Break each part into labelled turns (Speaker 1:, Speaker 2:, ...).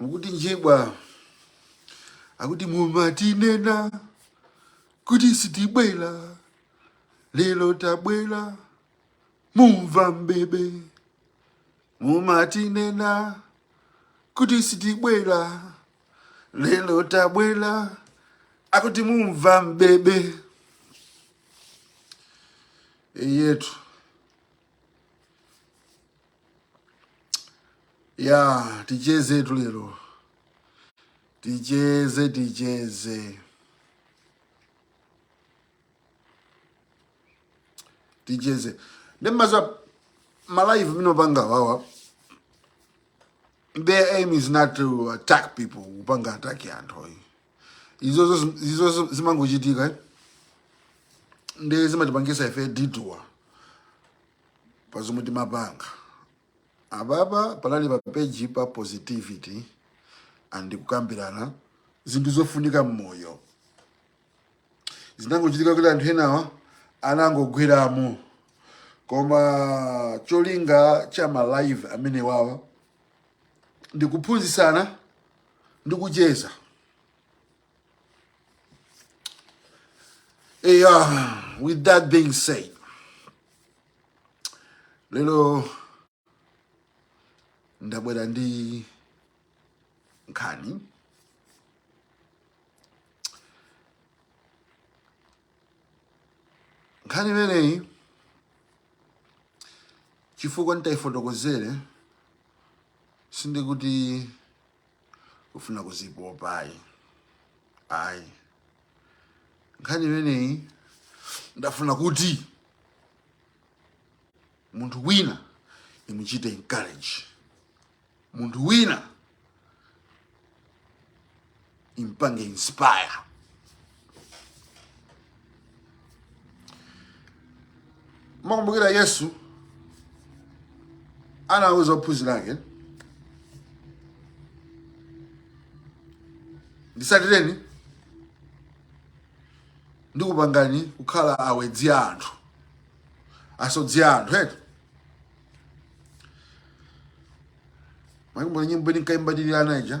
Speaker 1: mukuti njibwa akuti mumatinena kuti sitibwera lero tabwera mumva bebe mumatinena kuti sitibwera lero tabwera akuti mumva bebe eyetu ya ticheze tu lero ticheze ticheze ticheze nde mudziwa malive amene timapanga wawa their aim is not to attack people kupanga ataki anthu oyi izozo zim- izozo zimangochitika eh? nde zimatipangisa ife detour pa zomwe timapanga apapa panali pa page pa positivity and kukambirana zinthu zofunika m'moyo zinangochitika kuti anthu enawa anangogweramo koma cholinga cha ma live amene wawa ndikuphunzitsana ndikucheza Hey, uh, with that being said, lero ndabwera ndi nkhani nkhani imeneyi chifukwa nditayifotokozere sindikuti kufuna kuzipopa ayi ayi nkhani imeneyi ndafuna kuti munthu wina imuchite encourage munthu wina impange inspire mukukumbukira yesu anawuza ophunzira ake nditsatireni ndikupangani kukhala awedzi a anthu asodzi a anthu eti mukukumbukira nyimbo tinkaimba tili ana ija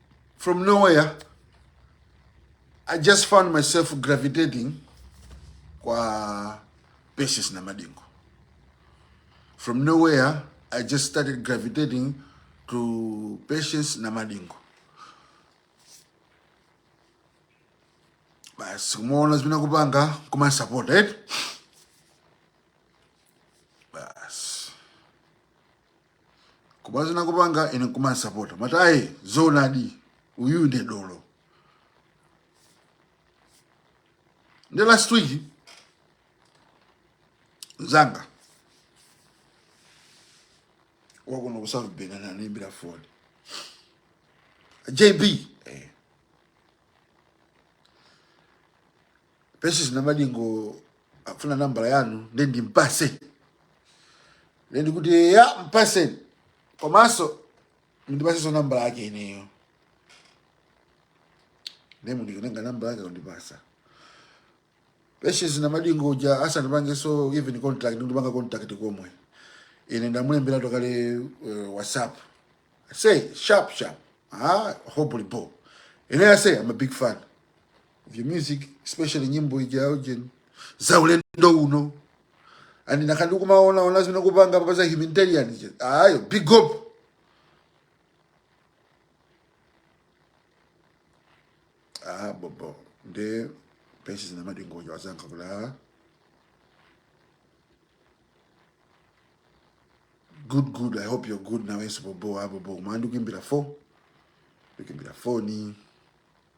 Speaker 1: From nowhere, I just found myself gravitating kwa Patience Namadingo. From nowhere, I just started gravitating to Patience Namadingo. Basi umeona zimene kupanga kuma support right? kumaona zimene ndikupanga ine nkumandisapota amati ayi zoonadi uyu nde dolo nde last week mzanga wakuno ku south bend anandiimbira foni jb eh. Patience Namadingo afuna nambala yanu nde ndimpase nde ndikuti ya mpase komanso mundipasenso nambala yake ineyo ndi mundikenenga nambala yake kundipasa Patience Namadingo uja asandipangeso even contact ndikupanga contact komwe ine ndamulemberatu kale uh, whatsapp ase sharp sharp ah hopefully bo ine ase i'm a big fan of your music especially nyimbo ija ya ujeni za ulendo uno and nakandi kumaona ona zimene kupanga papa za humanitarian ija ayo big up ah bobo nde pesi zina madingo ija wasanka kula good good i hope you're good nawenso bobo ah bobo umandu kimbira 4 ukimbira 4 ni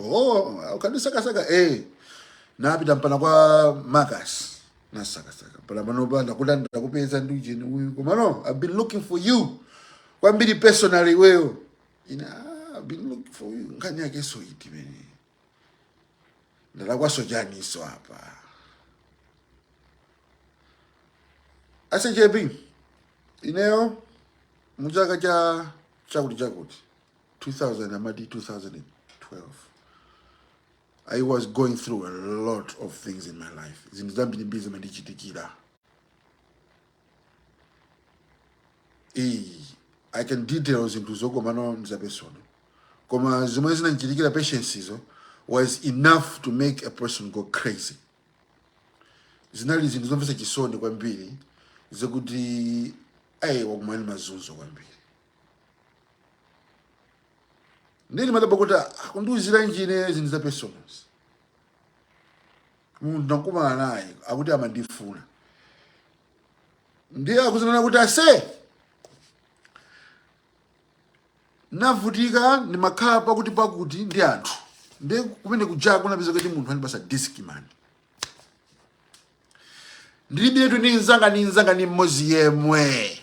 Speaker 1: oh ukadisakasaka eh napita mpana kwa marcus nasakasaka mpana panopa ndakuda ndakupeza ndi ujeni uyu komano i've been looking for you kwambiri personally iweyo ine "Ah, i've been looking for you nkhani yakeso iti imene ndalakwaso chaniso apa ase jp ineyo muchaka cha chakuti chakuti 2000 amati 2012 i was going through a lot of things in my life zinthu zambirimbiri zimandichitikira iyi i can't detail zinthuzo komano nza personal koma zomwe zinandichitikira patience izo was enough to make a person go crazy zinali zinthu zomvetsa chisoni kwambiri zokuti ayi wakumana ndi mazunzo kwambiri nde ndimadabwa kuti akundiuziranji ine zinthu za personal munthu ndakumana naye akuti amandifuna ndiye akudzanena kuti ase navutika ndimakhala pakuti pakuti ndi anthu ndiye kumene kuja kunapezeka kuti munthu andipasa discman ndilibiretu ndi nzanga ndi nzanga ndi mmodzi yemwe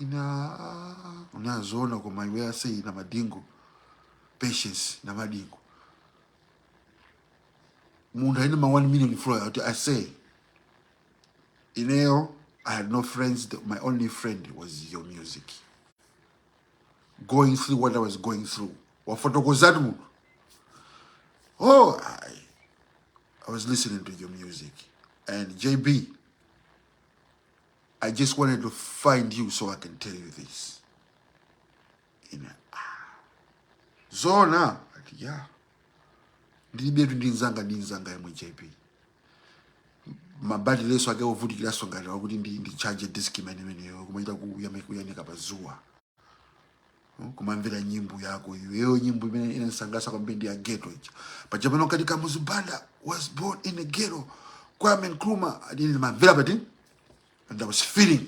Speaker 1: ina ah, unazoona koma iwe ase ina madingo patience na madingo munthu aine ma 1 million flow ati ase ineyo i had no friends The- my only friend was your music going through what i was going through wafotokozatu munthu oh I, i was listening to your music and jb I just wanted to find you so I can tell you this. Ine, ah, zoona ati ya ndilibetu ndi nzanga ndi nzanga yemwe jp mabatireso ake ovutikiranso ngati wakuti ndi ndi charge discman imeneyo kumachita kuyanika pa dzuwa kumamvera nyimbo yako iweyo nyimbo imene inanisangasa kwambiri ndi ya ghetto ija paja pano kati kamuzu banda was born in a ghetto kwame nkrumah adini mamvera pati and i was feeling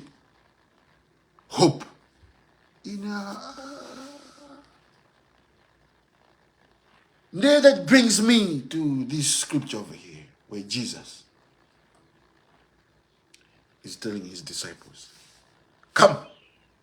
Speaker 1: hope ina There that brings me to this scripture over here, where Jesus is telling his disciples, Come,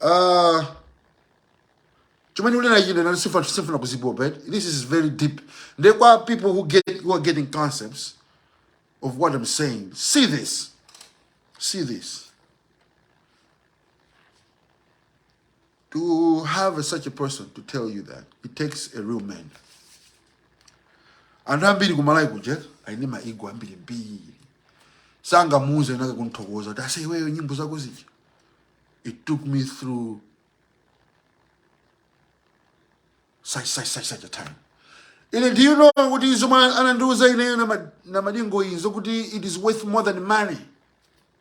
Speaker 1: Uh, chomwe ndikunena chino inani sifuna sifuna kuzipopa eti. this is very deep nde kwa people who get who are getting concepts of what i'm saying see this see this To have such a person to tell you that it takes a real man. Anthu ambiri ku Malawi kuja ali ndi ma ego ambirimbiri sangamuuze nzake kumthokoza kuti ase iweyo nyimbo zako zija it took me through such such such such a time ine do you know kuti zomwe anandiuza ineyo Nama- Namadingo ndi zokuti it is worth more than money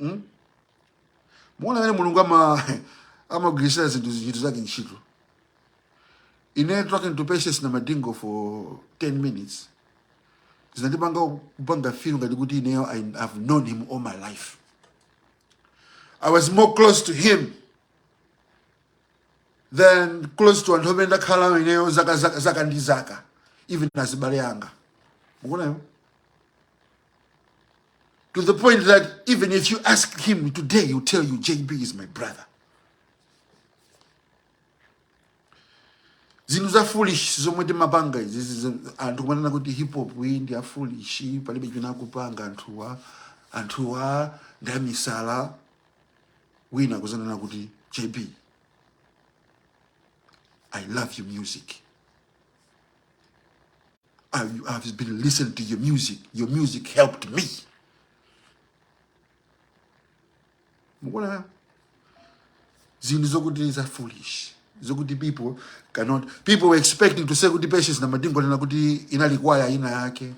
Speaker 1: mm? mukuona mmene mulungu ama amagwirisira zinthu zinthu zake ntchito ine talking to patients Namadingo for 10 minutes zinandipanga kupanga feel ngati kuti ineyo I, i've known him all my life i was more close to him than close to anthu amene ndakhala nawo ineyo zaka, zaka, zaka ndi zaka even azibale anga mukuona to the point that even if you ask him today, he'll tell you, JB is my brother. zinthu za foolish zomwe timapanga izi izi- anthu kumanena kuti hip hop iyi ndi ya foolish palibe chimene akupanga anthuwa anthuwa ndi amisala wina kudzanena kuti jb i love your music I, I've been listening to your music. Your music helped me. Mukuona zinthu zokuti za foolish zokuti people cannot people were expecting to say kuti patience Namadingo anena kuti inali kwaya ina yake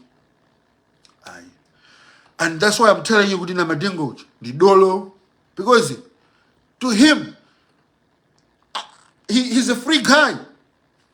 Speaker 1: ayi and that's why i'm telling you kuti Namadingo uyu ndi dolo because to him he, he's a free guy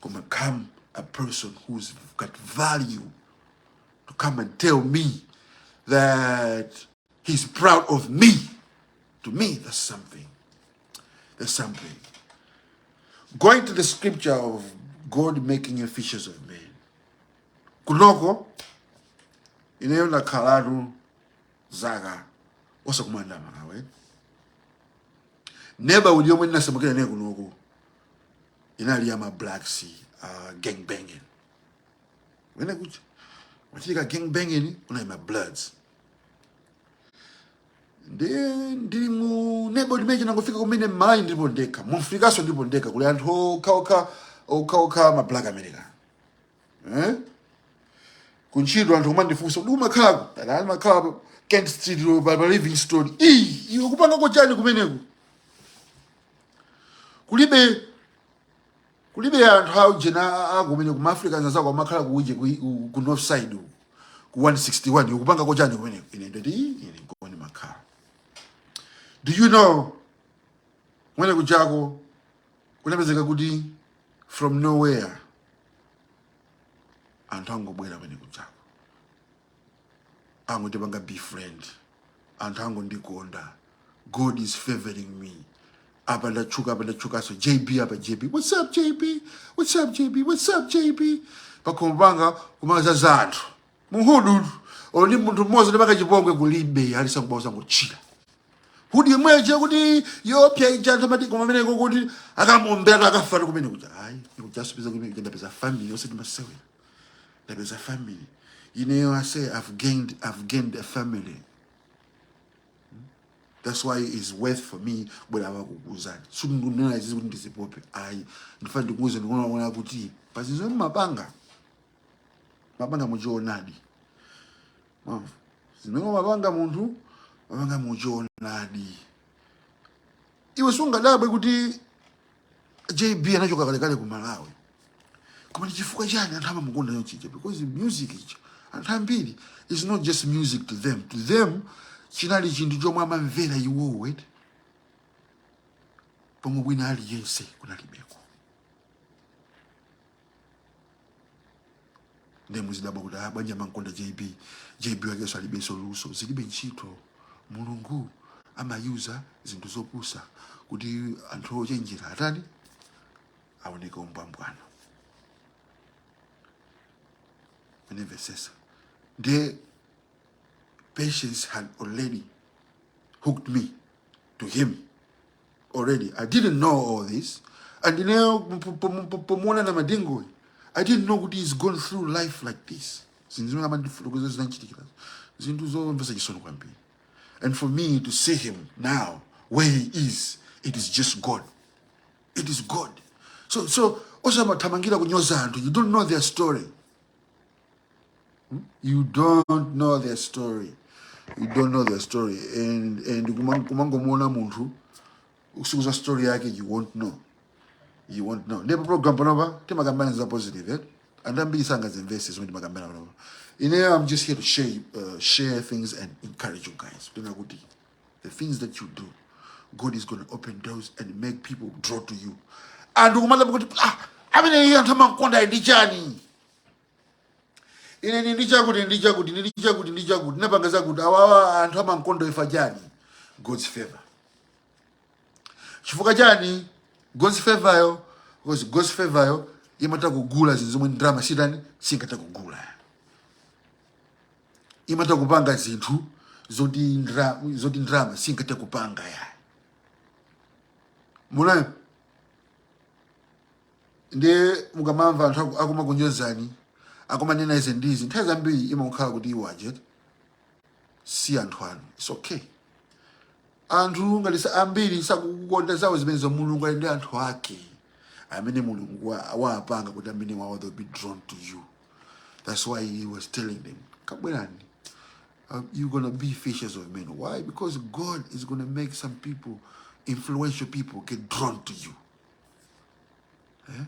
Speaker 1: koma come a person who's got value to come and tell me that he's proud of me to me that's something that's something going to the scripture of god making you fishers of men kunoko ineyo ndakhalatu zaka osakumanda malawi neba uliomwe ndinasamukira naye kunoko inali ya ma blacks uh, gang banging kwinakwake kuti wachitika gang banging unali ma bloods ndi ndili mu nebo imene ndinangofika kumene mmalawi ndilipo ndekha mu Africanso ndilipo ndekha kuli anthu okhaokha okhaokha ma black america eh? kuntchito anthu kumandifunsa kuti umakhalako ndati ndimakhala pa kent street road pa pa livingstone ii iwe ukupangako chani kumeneko kulibe kulibe anthu aujena kumeneko ma africans anzako amakhala kuuje ku, ku, ku north side uku ku 161 ukupanga chani kumeneko ine ndati "Ii, ine nkomwe ndimakhala do you know kumene kujako kunapezeka kuti from nowhere anthu angobwera kumene kujako angondipanga befriend anthu angondikonda God is favoring me apa ndatchuka apa ndatchukanso jb apa jb what's up jb what's up jb what's up jb pakhomo panga kumadzadza anthu muhudu olo ndi munthu mmodzi ondipanga chipongwe kulibe alisakubaosa kuchitira kuti hood ija imene ikuti yoopsa ija anthu amati koma ameneko kuti akamuombera akafa ndi kumene kuja ayi ndikudzapeza kumene kuja ndapeza family yonse ndimasewera Ndapeza family. You know, I say I've gained, I've gained a family. That's why it's worth for me kubwera kukuuzani sindinena izizi kuti ndizipope ayi ndifuna ndikuuze ndikungoona kuti pazinthu zomwe amapanga amapanga muchoonadi mwamva zimene amapanga munthu amapanga muchoonadi iwe sungadabwe kuti JB anachoka kalekale ku Malawi. Koma ndi chifukwa chani anthu amamukonda chonchija? Because music ichi anthu ambiri is not just music to them. To them chinali chinthu chomwe amamvera iwowo pomwe wina aliyense kunalibeko. ndiye muzidabwa kuti ah, bwanji amamkonda jb jb wakenso alibenso luso zilibe ntchito mulungu amayuza zinthu zopusa kuti anthu ochenjera atani aoneke umbwambwana and vice versa ndiye patience had already hooked me to him already. I didn't know all this. And ine pomuona Namadingo, I didn't know kuti he's gone through life like this. Zinthu zimene amandifotokoza zinamchitikira. Zinthu zomvetsa chisoni kwambiri. And for me to see him now, where he is, it is just God. It is God. So osamathamangira kunyoza anthu. You don't know their story. you don't know their story you don't know their story and and kumang- kumangomuona munthu usakudziwa story yake you won't know you won't know ndiye pa program panopa timakambirana za positive eh? and ambiri sangazimvetse zomwe timakambirana panopa ineyo i'm just here to share, uh, share things and encourage you guys kunena kuti the things that you do god is going to open doors and make people draw to you and akumadabwa kuti ah amene iye anthu amamkonda ndi chani ine ndi ndi chakuti ndi chakuti ndi chakuti ndi chakuti ndapanga zakuti awawa anthu amamkonda chifukwa chani god's favor chifukwa chani god's favor yo because god's favor yo imatha kugula zinthu zomwe ndalama siitani singathe kugula imatha kupanga zinthu zoti ndra- zoti ndalama singathe kupanga ya munayo ndiye ukamamva anthu aku- akumakunyozani akumanena izi ndi izi nthawi zambiri imakhala kuti iwo aja eti si anthu anu its okay anthu ngati sa- ambiri sakukukonda zawo zimenezo mulungu ali ndi anthu ake amene mulungu wa- waapanga kuti amene wawo they'll be drawn to you that's why he was telling them kabwerani uh, you're gonna be fishers of men why because god is gonna make some people influential people get drawn to you Eh?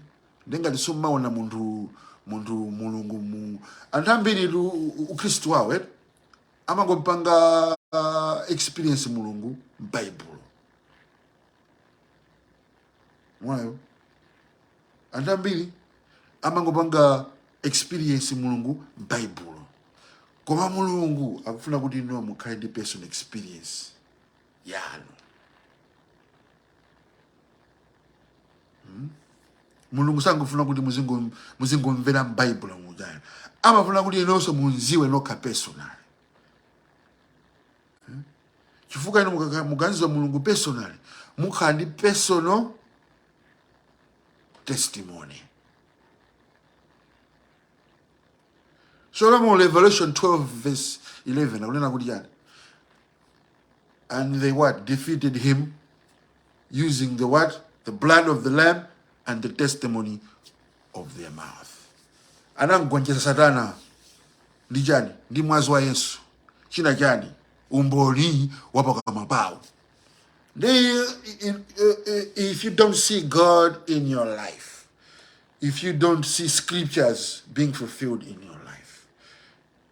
Speaker 1: ndi ngati sumamuona munthu munthu mulungu mu anthu ambiri tu u- u- ukhristu wawo eh? amangompanga ah, experience mulungu m'baibulo mwayo anthu ambiri amangopanga experience mulungu m'baibulo koma mulungu akufuna kuti inuyo mukhale ndi personal experience yanu Hmm? mulungu sangofuna kuti muzingo- muzingomvera m'baibulo muja iyayi amafuna kuti inonso mumdziwe nokha personal chifukwa inu mukaka- mukamdziwa mulungu personal mukhala ndi personal testimony so revelation 12 verse 11 akunena kuti chani and they what defeated him using the what the blood of the lamb and the testimony of their mouth anamgonjesa satana ndi chani ndi mwazi wa yesu china chani umboni wa pakamwa pawo i- i- i- if you don't see god in your life if you don't see scriptures being fulfilled in your life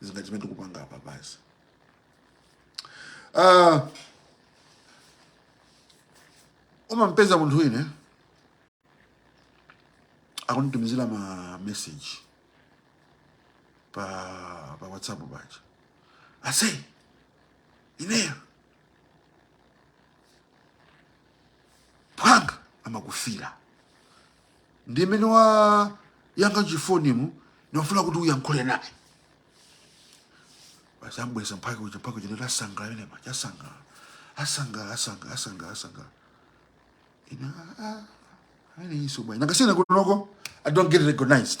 Speaker 1: zinazake zimene tikupanga apa basi uh, umampeza munthu wina akunditumizira ma message pa pa whatsapp paja ase iweyo phwanga amakufira ndi nnene wayankha chifonimu ndimafuna kuti uyankhule naye basi ambweza mphaka uja mphaka uja ndasangala amene maja asangala asangala asangala asangala asangala ina ah, ah, amene iso bwana nakasiyana kunoko i don't get recognized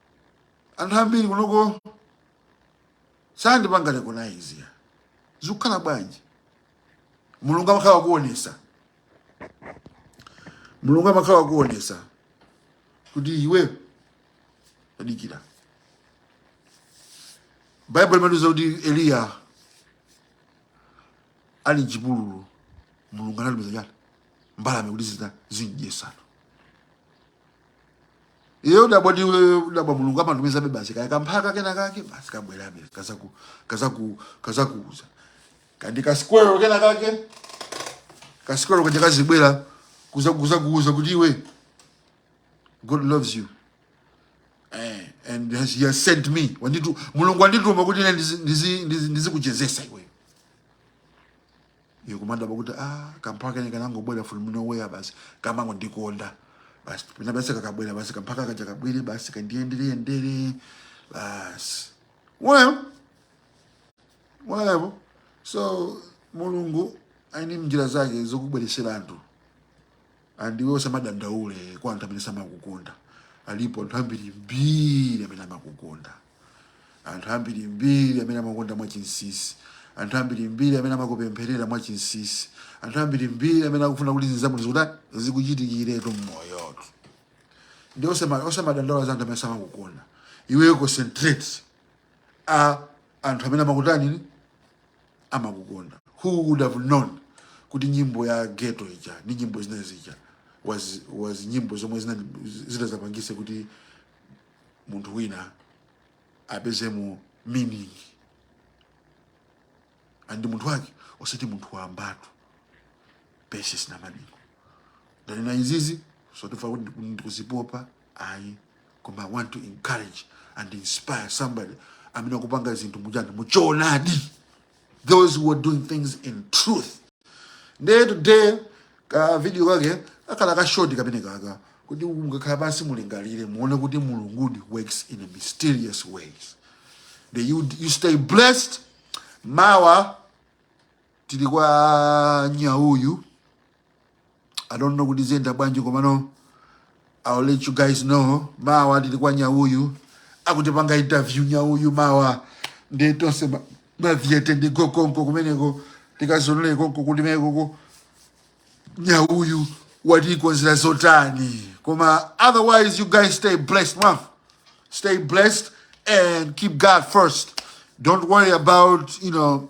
Speaker 1: anthu ambiri kunoko sandipanga recognize ya zikukhala bwanji mulungu amakhala akuonesa mulungu amakhala akuonesa kuti iwe adikira baibulo limatiuza kuti eliya ali mchipululu mulungu anatumiza chani mbalame kuti zitani zimdyesano iye udabwa ndi iwe udabwa mulungu amatumizabe basi kaya kamphaka kena kake basi kabwerabe kazaku kazaku kazakuuza kandi kasikwero kena kake kasikwero kaja kazibwera kuzakuuza kuti iwe god loves you eh, and has, he has sent me wanditu- mulungu wandituma kuti ine ndizi- ndizi- ndizi- ndizikuchezesa iwe ndikumadabwa kuti ah kamphaka kene kanangobwera from nowhere basi kamangondikonda basi pena basi kakabwera basi kamphaka kaja kabwere basi kandiyendereyendere basi whatever so mulungu ali ndi njira zake zokubweresera anthu And iwe usamadandaule kwa anthu amene samakukonda. Alipo anthu ambiri mbiri amene amakukonda. Anthu ambiri mbiri amene amakukonda mwachinsinsi. Anthu ambiri mbiri amene amakupempherera mwachinsinsi. Anthu ambiri mbiri amene akufuna kuti zinthu zabwino zikuta zikuchitikiretu mmoyotu. Nde osama osamadandaula za anthu amene samakukonda. Iwe concentrate a anthu amene amakutani amakukonda who would have known kuti nyimbo ya ghetto ija ndi nyimbo zina zija was, was nyimbo zomwe zina- zitazapangise kuti munthu wina apezemo meaning and munthu wake osati munthu wambatu Patience Namadingo ndanena izizi osati chifukwa choti ndiku- ndikuzipopa ayi koma i want to encourage and inspire somebody amene akupanga zinthu muchani muchoonadi those who are doing things in truth nde today ka video kake akhala ka short kamene kaka kuti mukakhala pansi mulingalire muone kuti mulungudi works in a mysterious ways Then you, you stay blessed mawa tili kwa nyauyu i don't know kuti ziyenda bwanji komano i'll let you guys know mawa tili kwa nyauyu akutipanga interview nyauyu mawa nde tonse ma- mavyete ndi konkoko kumeneko tikazionere konko kumeneko nyauyu watikonzera zotani koma otherwise you guys stay blessed mwamva stay blessed and keep God first. Don't worry about, you know,